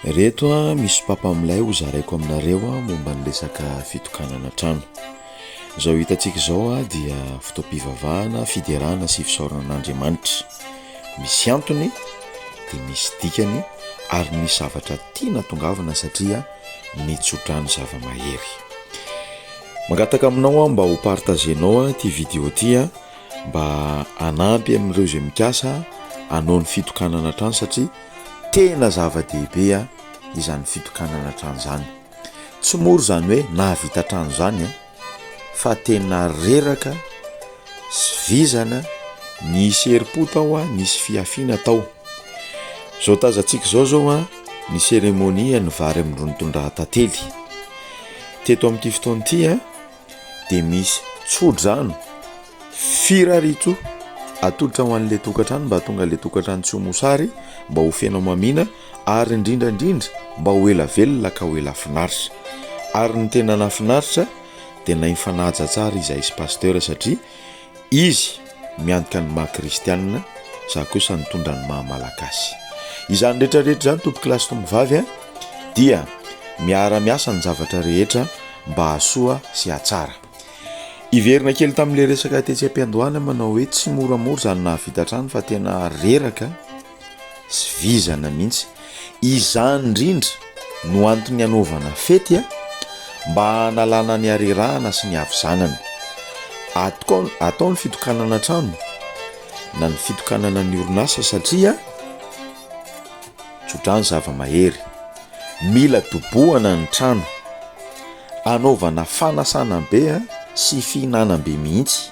Reto a, misy papa milay ho zaraiko aminareo a, momba ny resaka fitokanana trano. Izao hitantsika izao a, dia fotoam-pivavahana, fiderana sy fisaorana an'Andriamanitra. Misy antony, dia misy dikany ary misy zavatra tiana atongavana satria nitso-drano zava-mahery. Mangataka aminao aho mba ho partagenao a, ity video ity a, mba hanampy amin'ireo izay mikasa hanao ny fitokanana trano satria Tena zava-dehibe izany fitokanana trano izany. Tsy mora izany hoe nahavita trano izany fa tena reraka sy vizana, nisy herim-po tao, nisy fihafiana tao. Izao tazantsika izao izao ny cérémonie ny vary amin-dron'ny tondrahan-tantely. Teto amin'ity fotoana ity. dia misy tsodrano firaritro atolotra ho an'ilay tokantrano mba hahatonga ilay tokantrano tsy ho mosary mba ho feno mamina ary indrindra indrindra mba ho ela velona ka ho ela finaritra ary ny tena nafinaritra dia nahay nifanaja tsara izahay sy pasteur satria Izy miantoka ny maha kristianina, za kosa nitondra ny maha malagasy. Izany rehetra rehetra izany toby kilasy tombovavy a, dia miara miasa ny zavatra rehetra mba hasoa sy hatsara. Hiverina kely tamin'ilay resaka tetsy am-piandohana manao hoe tsy moramora izany nahavita hatrany fa tena reraka. sy vizana mihitsy. Izany indrindra no antony anaovana fety a! mba hanalana ny harerahana sy ny havizanana. Atao atao ny fitokanana trano na ny fitokanana ny orinasa satria tsodrano zava-mahery. Mila dobohana ny trano. Anaovana fanasana be sy fihinanam-be mihitsy.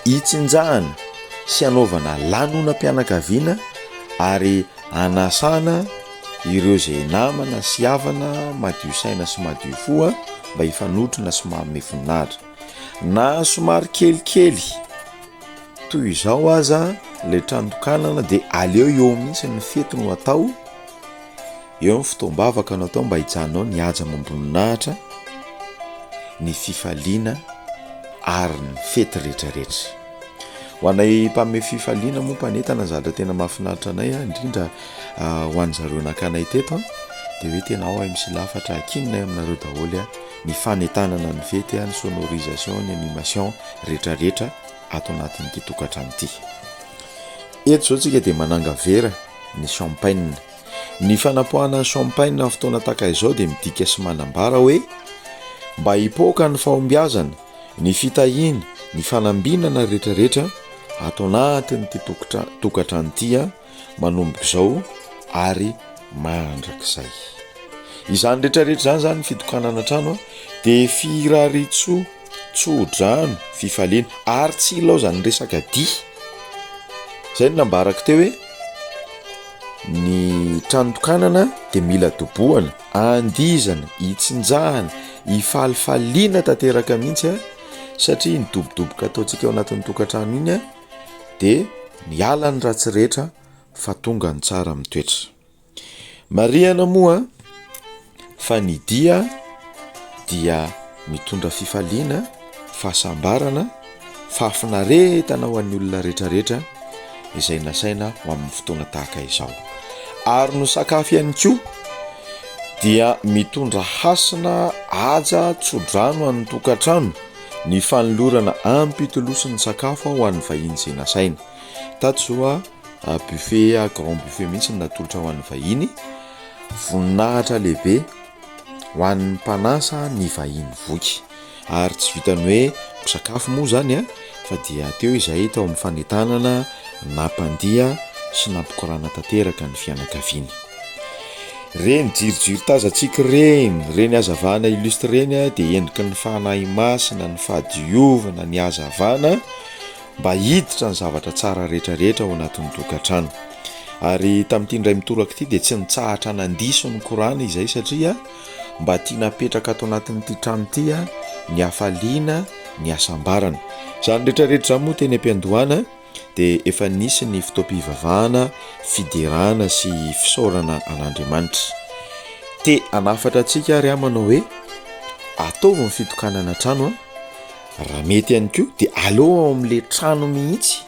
Itsinjahana sy anaovana lanonam-pianakaviana ary anasana ireo izay namana sy havana madio saina sy madio fo mba hifanotrona sy manome voninahitra. Na somary kelikely toy izao aza ilay trano tokanana dia aleo eo mihitsy ny fety no atao. Eo ny fotoam-bavaka natao mba hijanao ny haja amam-boninahitra, ny fifaliana ary ny fety rehetrarehetra. Ho anay mpanome fifaliana moa mpanentana zatra tena mahafinaritra anay indrindra ho an'ny zareo nakanay teto dia hoe tena ao MC Lafatra hakininay aminareo daholo ny fanentanana ny fety, ny sonorisation, ny animation rehetrarehetra ato anatin'ity tokantrano ity. Eto izao isika dia manangavera ny champagne. Ny fanapoahana ny champagne amin'ny fotoana tahaka izao dia midika sy manambara hoe mba hipoaka ny fahombiazana, ny fitahiana, ny fanambinana rehetrarehetra ato anatin'ity tokantrano ity manomboka izao ary mandrakizay. Izany rehetrarehetra izany izany fitokanana trano dia firaritsoa. tsodrano, fifaliana ary tsy ilaozan'ny resaka dihy. Zay no nambarako teo hoe ny tranotokanana dia mila dobohana andizana hitsinjahana hifalifaliana tanteraka mihitsy a satria ny dobodoboka ataontsika ao anatin'ny tokantrano iny a dia miala ny ratsy rehetra fa tonga ny tsara mitoetra Marihana moa fa ny dia dia mitondra fifaliana, fahasambarana, fahafinaretana ho an'ny olona rehetrarehetra izay nasaina ho amin'ny fotoana tahaka izao. Ary no sakafo ihany koa dia mitondra hasina aja tsodrano an'ny tokantrano ny fanolorana ampitolosin'ny sakafo ho an'ny vahiny izay nasaina. Tato buffet grand buffet mihitsy no natolotra ho an'ny vahiny, voninahitra lehibe ho an'ny mpanasa ny vahiny voky ary tsy vitan'ny hoe misakafo moa izany an, fa dia teo izahay tao amin'ny fanentanana nampandihy sy nampikorana tanteraka ny fianakaviana. Ireny jirijiry tazantsika ireny, ireny hazavana illustre ireny dia endriky ny fanahy masina, ny fahadiovana, ny hazavana. mba hiditra ny zavatra tsara rehetrarehetra ao anatin'ny tokantrano. Ary tamin'ity indray mitoraka ity dia tsy nitsahatra nandiso ny Kor'any izay satria mba tiana hapetraka ato anatin'ity trano ity ny hafaliana, ny hasambarana. Izany rehetrarehetra izany moa teny am-piandohana dia efa nisy ny fotoam-pivavahana, fiderana sy fisaorana an'Andriamanitra. Te hanafatra antsika ary aho manao hoe ataovy ny fitokanana trano a! Raha mety ihany koa de aleo ao amin'le trano mihitsy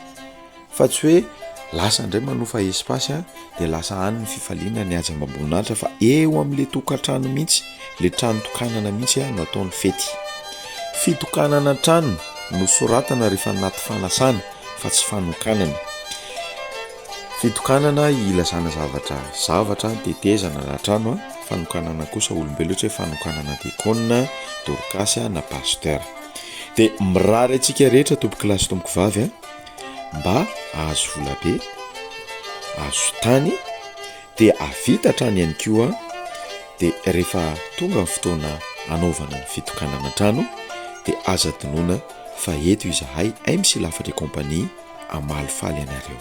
fa tsy hoe lasa indray manofa espace a, de lasa any ny fifaliana ny haja amam-boninahitra fa eo amin'le tokantrano mihitsy, le trano tokanana mihitsy no atao ny fety. Fitokanana trano no soratana rehefa anaty fanasana fa tsy fanokanana. Fitokanana ilazana zavatra zavatra, tetezana na trano, fanokanana kosa olombelona ohatra hoe fanokanana diakona, dorkasy na pasteur. Dia mirary antsika rehetra tompokolahy sy tompokovavy a, mba hahazo volabe, hahazo tany dia hahavita hatrany ihany koa dia rehefa tonga ny fotoana hanaovana ny fitokanana trano dia aza adinoina fa eto izahay MC Lafatra et compagnie. hamalifaly anareo.